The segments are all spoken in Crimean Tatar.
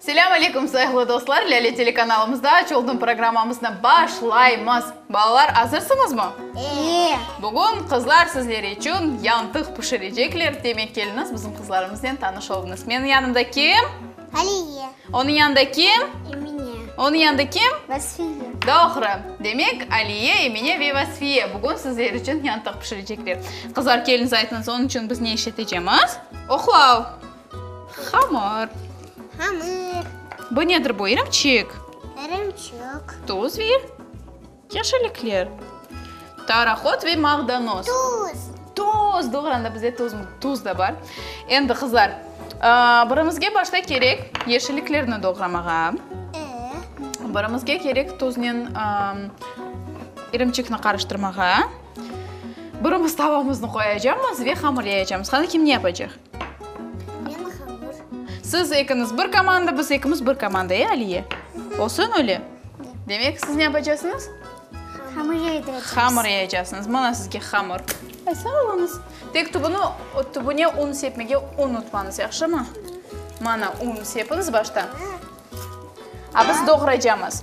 Selâm aleyküm, sayıqlı dostlar! Lâle telekanalımızda Aç oldım programmamıznı başlaymız. Balalar, azırsıñızmı? Ee! Bugün qızlar sizler içün yantıq pişirecekler, demek, keliniz bizim qızlarımıznen tanış oluñız. Meniñ yanımda kim? Aliye. Onıñ yanında kim? Emine. Onıñ yanında kim? Vasfiye. Doğru. Demek, Aliye, Emine ve Vasfiye bugün sizler içün yantıq pişirecekler. Qızlar, keliniz aytıñız, onıñ içün biz ne işletecemiz? Oqlav! Hamır. Hamır. Bu nedir bu? İrimçik. İrimçik. Tuz ve yeşillikler. Taraqot ve mağdanoz. Tuz. Tuz. Doğrudan da bizde tuz, tuz da bar. Endi qızlar, ıı, birimizge başta kerek yeşilliklerni doğramağa. Ee? Birimizge kerek tuznen, ıı, irimçikni qarıştırmağa. Birimiz tavamıznı qoyacamız ve hamır yayacamız. Qani, kim ne yapacaq? Men hamır. Siz ekiñiz bir komanda, biz ekimiz bir komanda, e, Aliye? Olsun öyle? Demek, siz ne yapacasıñız? Hamır yaydıracañız. Hamır yayacasıñız. Mına sizge hamır. E, sağ oluñız. Tek tübüni, tübüne un sepmege unutmañız, yahşımı? Mına un sepiñiz başta. A biz doğraycamız.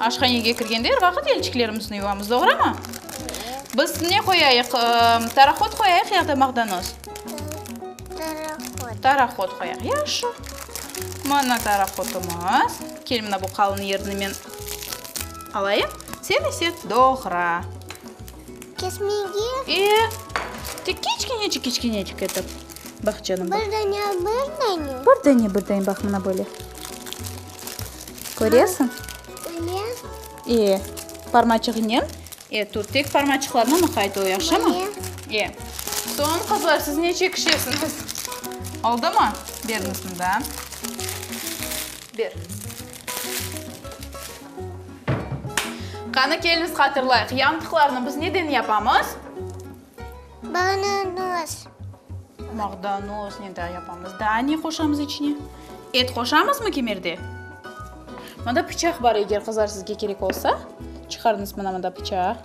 Aşhanege kirgende er vaqıt elçiklerimizni yuvamız, doğrumı? Biz ne qoyayıq, tarahod qoyayıq ya da maqdanoz? Tarahod. Tarahod qoyaq, yahşı. Mına tarahodımız. Kel, mına bu qalın yerini men alayım, sen ise doğra. Kesmege? E, tek kiçkenecik, kiçkenecik etip. Bax, canım, bax. Bir dane, bir dane. Bir dane, bir dane, bax, mına böyle. Köresiñ? Öyle. E, parmaçığınen? E, tut, tek parmaçıqlarına mıqayt ol, yahşımı? Öyle. E, soñ, qızlar, siz neçe kişisiñiz? Oldumı? Beriñiz mında. Ber. Qanı, keliñiz, hatırlayıq, yantıqlarnı biz neden yapamız? Bağnanoz. Bağdanoz ne daa yapamız? Daa ne qoşamız içine? Et qoşamızmı kemerde? Mında pıçaq bar, eger qızlar sizge kerek olsa, çıqarıñız mına mında pıçaq.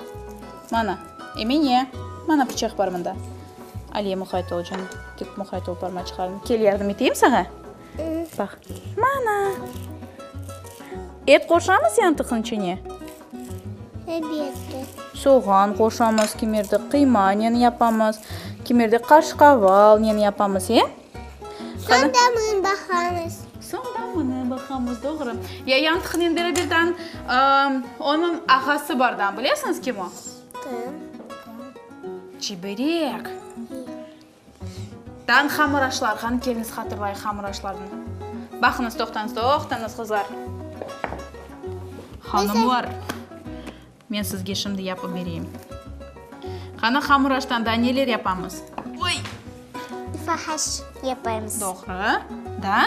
Mana, Emine, mana pıçaq bar mında. Aliye, muqayt ol canım, tek muqayt ol, barma çıqarma. Kel, yardım eteyim saña? Baq. Mana! Et qoşamız yantıqnıñ içine? Elbette. Soğan qoşamız, kimerde qıymanen yapamız, kimerde qaşqavalnen yapamız, e? Soñ da mını baqamız. Soñ da mını baqamız, doğru. Ya yantıqnen beraberden onıñ ağası bardan, bilesiñiz, kim o? Kim? Çiberek. Tan hamıraşlar, qani keliñiz hatırlayıq hamıraşlarnı. Baqıñız, toqtañız, toqtañız, qızlar. Hanımlar, men sizge şimdi yapıp bereyim. Qani hamıraştan daa neler yapamız? Oy! Fahaş yapamız. Doğru. Daa?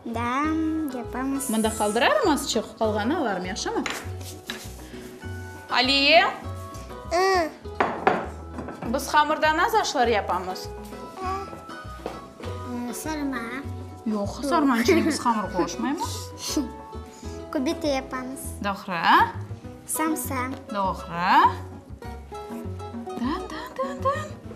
Da, yapamız. Mında qaldırarım azçıq, qalğanı alarım, yahşımı? Aliye! I. Biz hamırdan az aşlar yapamız. Sarma. Yoq, sarmanı içine biz hamır qoşmaymız. Kubita yapamız. Doğru. Samsa. Doğru.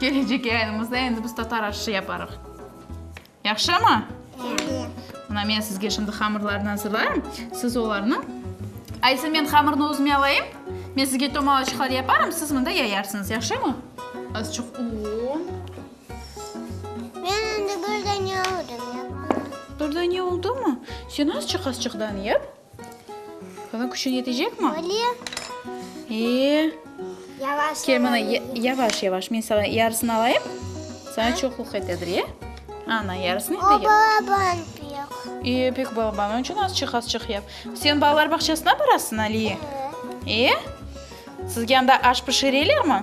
Kelecek yayınımızda endi biz tatar aşı yaparıq. Yahşımı? Yahşı. Mına men sizge şimdi hamırlarnı azırlayım, siz olarnı Aysin, men hamırnı özüme alayım. Men sizge tomalaçıqlar yaparım, siz mında yayarsıñız. Yahşımı? Azıçıq un. Men endi bir dane aldım. Bir dane oldumu? Sen azıçıq-azıçıqdan yap. Bunıñ küçün yetecekmi? Böyle. Eee. Yavaş. Kel, mına, yavaş, yavaş. Men saña yarısını alayım. Saña çoqluq etedir, e? Ana, yarısını etedir. O balaban pek. Eee, pek balaban. Onıñ içün azçıq, azçıq yap. Sen balalar bağçasına barasıñ, Aliye? E? Sizge anda aş pişirelermi?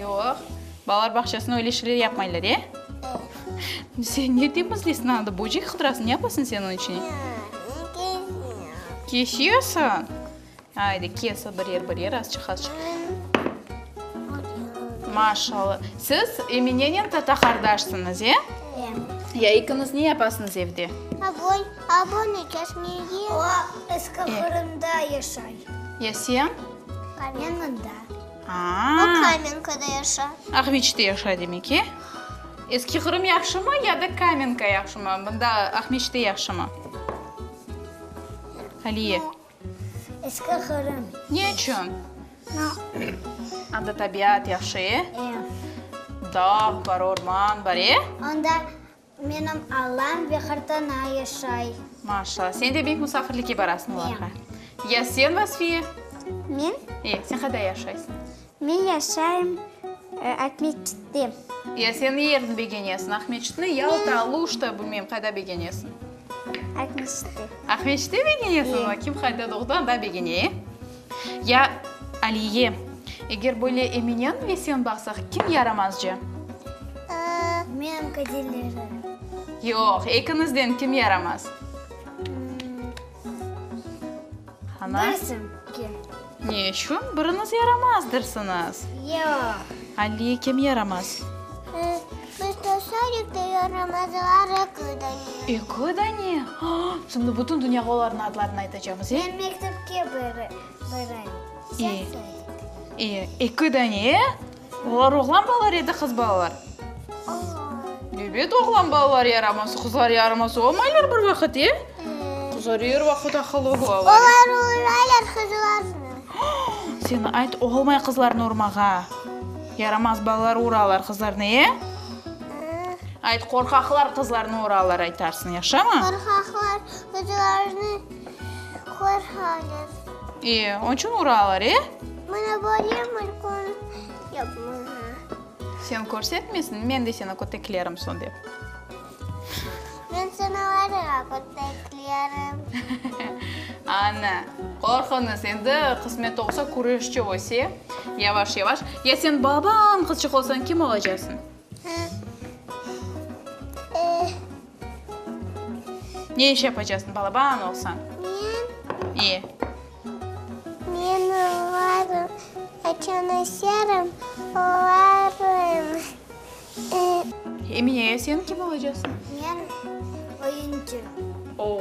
Yoq. Balalar bağçasında öyle şeyler yapmaylar, e? Sen ne dep izleysin anada? Böcek hıdırasın, ne yapasın sen onıñ içine? Kesiyorsun? Ayde, kes bir yer, bir yer, azçıq, azçıq. Maşallah. Siz Eminenen tata qardaşsıñız, e? Ya ekiñiz ne yapasıñız evde? Abon, abon ekesine ye. O, eski Qırımda yaşay. Ya sen? Kamenkada. O Kamenkada yaşa. Aqmeçte yaşa demek, e? Eski Qırım yahşımı ya da Kamenka yahşımı? Mında Aqmeçte yahşımı? Aliye. Eski Qırım. Ne içün? Anda tabiat yahşı, e? Dağ bar, orman bar, e? Anda Menim Allam ve qırtana yaşay. Maşallah. Sen de bek musafirlikke barasıñ olarğa. Ya sen, Vasfiye? Men? E, sen qayda yaşaysıñ? Men yaşayım Aqmescitte. Ya sen ne yerni begenesiñ? Aqmescitni, Yalta, Aluşta, bilmeyim, qayda begenesiñ? Aqmescitte. Aqmescitte begenesiñ? Kim qayda doğdı, anda begene, e? Ya Aliye, eger böyle eminen ve sen baqsaq, kim yaramazcı? Men qadilleri. Yoq, ekiñizden kim yaramaz? Ana. Birisi ki. Ne içün biriñiz yaramazdırsıñız? Yoq. Aliye, kim yaramaz? Smetoşarif diyorum adılar Eko Daniye. Eko Daniye? Aa! Şimdi bütün dünyâğa olarnıñ adlarını aytacağımız, e? Ben mektepke baram. E, e, Eko Daniye, e? Olar oğlan balalar ya da qız balalar? Oğlan. Ebet, oğlan balalar yaraması, qızlar yaraması olmaylar bir vaqıt, e? Qızlar er vaqıt aqıllı olalar. Olar urmaylar qızlarnı. Aa! Sen ayt, olmay qızlarnı urmağa. Yaramaz balalar uralar qızlarnı, e? Ayt, qorqaqlar qızlarnı uralar aytarsıñ, yaşamı? Qorqaqlar qızlarnı qorqalar. E, onıñ içün uralar, e? Mana böyle markon yapmağa. Sen körsetmesiñ, men de seni köteklerim sonda. Men seni olarığa köteklerim. Ana, qorqunız, endi qısmet olsa küreşçi öse, yavaş-yavaş. Ya sen babañ qızçıq olsañ, kim olacaqsıñ? Ne iş yapacaqsıñ, balabañ olsañ? Men? İ? Men olarım, qaçan öserim, olarım. Emine, ya sen kim olacaqsıñ? Men oyuncı. Oo,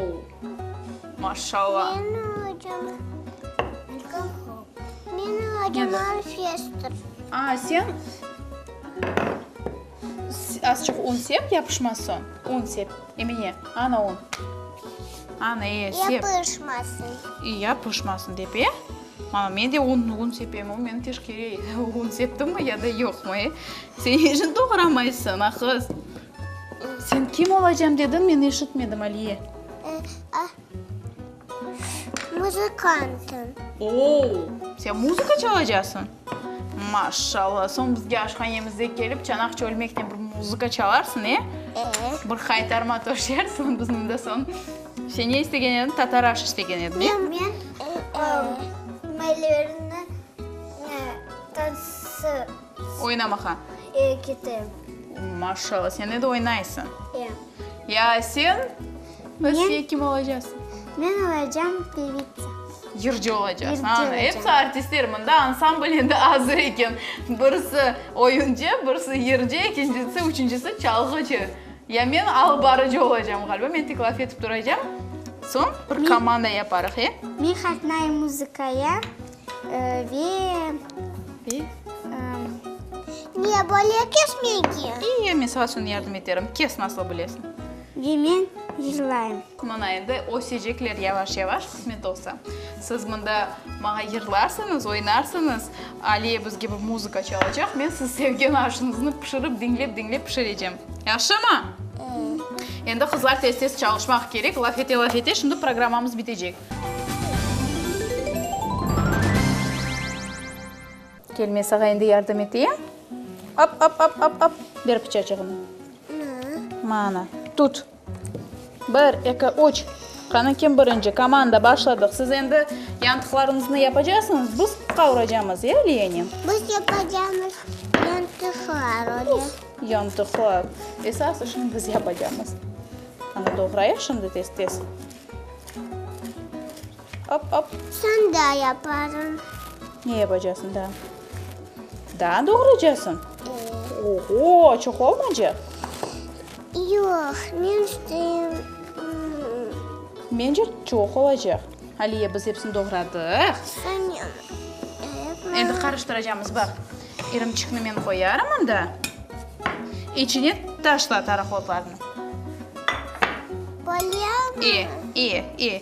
maşallah. Men olacağım Milka Hop. Men olacağım Alf Yester. A, sen azçıq un sep, yapışmaz soñ. Un sep, Emine, ana un. Ana, e, sep. Yapışmasın. İ, yapışmasın dep, e. Mana, men de un, un sepem, o, men teşkere un septimmi ya da yoqmı, e? Sen işin doğramaysıñ, a qız. Sen kim olacam dediñ, men eşitmedim, Aliye. Muzıkanttım. Oo, sen muzıka çalacaqsıñ? Maşşallah, soñ bizge aşhanemize kelip, çanaq çölmekten bir muzıka çalarsıñ, e? Bir qaytarma toşersiñ, biz mında soñ. Sen ne istegen ediñ? Tatar aşı istegen ediñ, ne? Men Molièrni tansı. Oynamağa? E, ketem. Maşallah, sen edi oynaysıñ. E. Ya sen? Rossiye kim olacasıñ? Men olacam pevitsa. Yırcı olacasıñ. Yırcı olacam. Episi artistler, mında ansambl endi azır eken. Birisi oyuncı, birisi yırcı, ekincisi, üçüncüsi çalğıcı. Ya men alıp barıcı olacağım ğaliba, men tek laf etip turacağım, soñ bir komanda yaparıq, e? Men qatnayım muzıkaya ve ne böyle kesmege? İyi, men saña soñ yardım eterim, kes nasıl bilesiñ. Ve men yırlayım. Mına endi ösecekler yavaş-yavaş, qısmet olsa. Siz mında maña yırlarsıñız, oynarsıñız, Aliye biz kibi muzıka çalacaq, men siz sevgen aşıñıznı pişirip, diñlep-diñlep pişirecem. Yahşımı? Endi, qızlar, tez-tez çalışmaq kerek, laf ete-laf ete, şimdi programmamız bitecek. Kel, men saña endi yardım eteyim. Ap-ap-ap-ap-ap, ber pıçaçığını. Mana, tut. Bir, eki, üç! Qanı kim birinci? Komanda, başladıq! Siz endi yantıqlarıñıznı yapacaqsıñız, biz qavuracamız, ya, liyeni? Biz yapacamız yantıqlar, öyle. Yantıqlar. Esas işni biz yapacamız. Qanı doğrayıq şimdi tez-tez. Ap, ap. Soñ da yaparım. Ne yapacasıñ daa? Daa doğraycasıñ? Ee. Oho, çoq olmaycaq? Yoq, men isteyim. Mence, çoq olacaq. Aliye, biz epsini doğradıq. Soñ yapma. Endi qarıştıracamız, baq. İrimçikni men qoyarım mında. İçine taşla tarahuatlarnı. Polya mı? E, e, e.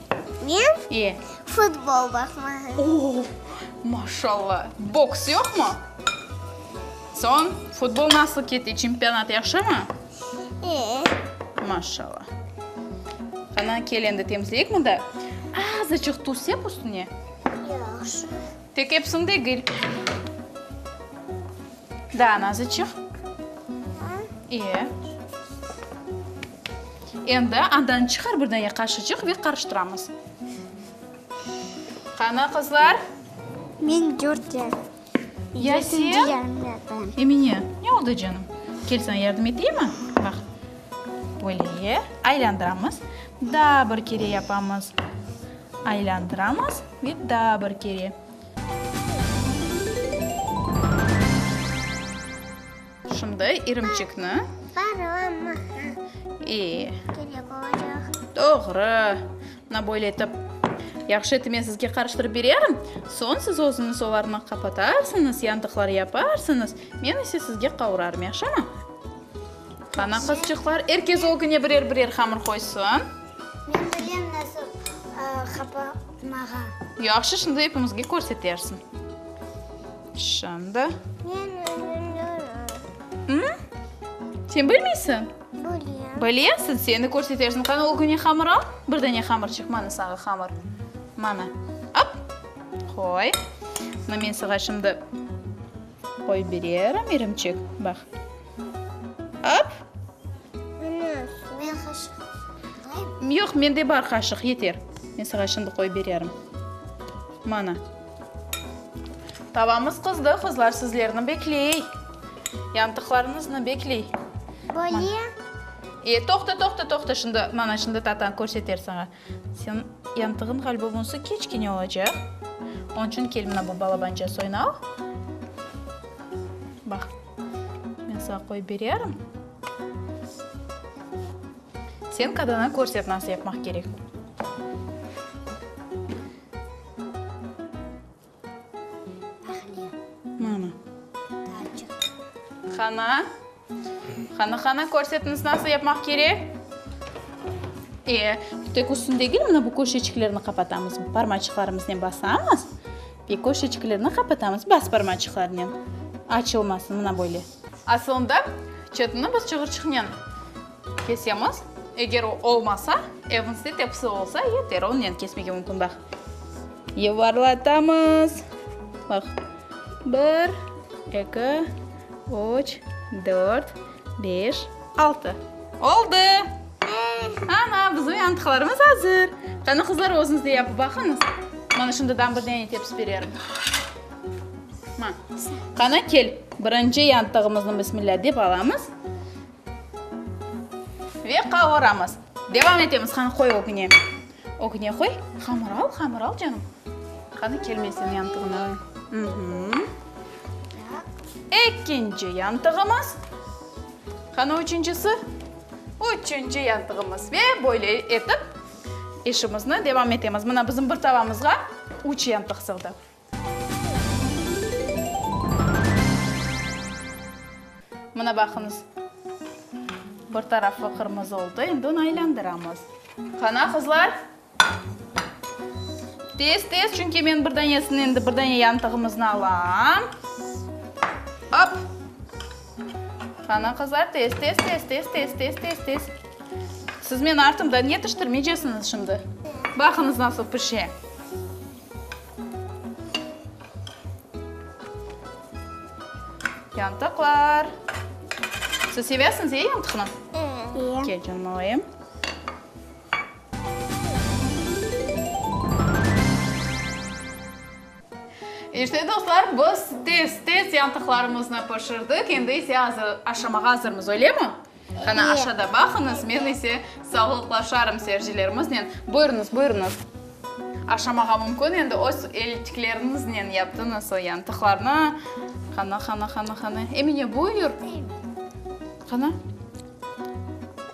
Men? E? Futbol baqmağa. Oo! Maşallah! Boks yoqmı? Soñ, futbol nasıl kete, çempionat yahşımı? E? Maşallah! Qana, kel endi temizleyik mında. Azıcıq tuz sep üstüne. Yahşı. Tek epsin degil. Daa nazıçıq. İyi. Endi andan çıqar bir dane qaşıcıq ve qarıştıramız. Qana, qızlar? Men dört yem. Ya sen? Emine, ne oldı canım? Kel sana yardım eteymi? Baq. Böyle aylandıramız. Daa bir kere yapamız. Aylandıramız ve daa bir kere. Şimdi irimçikni. Varılamaq. E. Kerek olacaq. Doğru. Mına böyle etip yahşı etip men sizge qarıştırıp bererim. Soñ siz özüñiz olarnı qapatarsıñız, yandıqları yaparsıñız, men ise sizge qavurarım, yahşımı? Qana, qızçıqlar, er kes ögüne birer-birer hamır qoysın. Men bilem nasıl qapatmağa. Yahşı, şimdi epimizge körsetersiñ. Şimdi. Men bilmirim. Sen bilmeysiñ? Bilem. Bilesiñ, seni körsetersiñ. Qana, ögüne hamır al. Bir dane hamır çıqtı, mana saña hamır. Mana, ap, qoy. Buna men saña şimdi. Qoy bererim irimçik, bax. Ap! Ana, men qaşıq alayım. Yoq, mende bar qaşıq, yeter. Men saña şimdi qoy bererim. Mana. Tavamız qızdı, qızlar, sizlerni bekley. Yantıqlarıñıznı bekley. Böyle? E, toqta, toqta, toqta, şimdi, mana, şimdi tatañ körseter saña. Sen yantığın ğaliba bunsı keçkene olacaq. Onıñ içün kel mına bu balabanca soyunal. Baq, men saña qoyıp bererim. Sen qadına körset nasıl yapmaq kerek. Hana, hana, hana, körsetiniz, nasıl yapmaq kerek? Bir tek üstüni degil, mına bu köşeçiklerni qapatamız, parmaçıqlarımıznen basamız ve köşeçiklerni qapatamız, bas parmaçıqlarnen, açılmasın, mına böyle. Asılında, çetini biz çıgırçıqnen kesemiz. Eger o olmasa, evinizde tepsi olsa, yeter, onnen kesmege mümkün. Baq, yuvarlatamız. Baq, bir, eki, üç, dört, beş, altı. Oldı! Ana, bizim yantıqlarımız azır. Qani, qızlar, özüniz de yapıp baqıñız. Mana şundadan bir dene tepsi bererim. Qana, kel, birinci yantığımıznı bismillah dep alamız ve qavuramız. Devam etemiz. Qani, qoy ögüne. Ögüne qoy. Hamır al, hamır al, canım. Qani, kel, men seni yantığına qoyayım. Ekinci yantığımız. Qani, üçüncisi. Üçüncü yantığımız. Ve böyle etip işimizni devam etemiz. Mına, bizim bir tavamızğa üç yantıq sığdı. Mına baqıñız, bir tarafı qırmızı oldı, endi onı aylandıramız. Qana, qızlar, tez-tez, çünki men bir danesini, endi bir dane yantığımıznı alam. Op! Qana, qızlar, tez-tez, tez-tez, tez-tez, tez-tez. Siz meni artımdan yetiştirmeycesiñiz şimdi. Baqıñız, nasıl pişe. Yantıqlar. Siz sevesiñiz, e, yantıqnı? İyi. Kel, canım alayım. İşte, dostlar, biz tez-tez yantıqlarımıznı pişirdik. Endi ise azır, aşamağa azırmız, öyle mi? Qana aşada baqıñız, men ise sağlıqlaşarım seyircilerimiznen. Buyurıñız, buyurıñız. Aşamağa mümkün endi, öz elçikleriñiznen yaptıñız o yantıqlarnı. Qana, qana, qana, qana. Emine, buyur. Qana.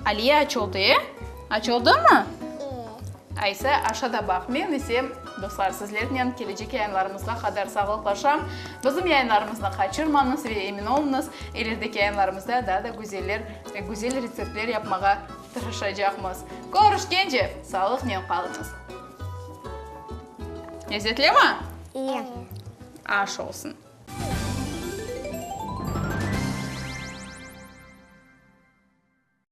Aliye açıldı, e? Açıldımı? Ayse, aşada baq. Men ise, dostlar, sizlernen kelecek yayınlarımızğa qadar sağlıqlaşam. Bizim yayınlarımıznı qaçırmañız ve emin olunız, ilerdeki yayınlarımızda daa da güzeller ve güzel retseptler yapmağa tırışacaqmız. Körüşkence, sağlıqnen qalıñız. Lezzetlimi? İyi. Aş olsun.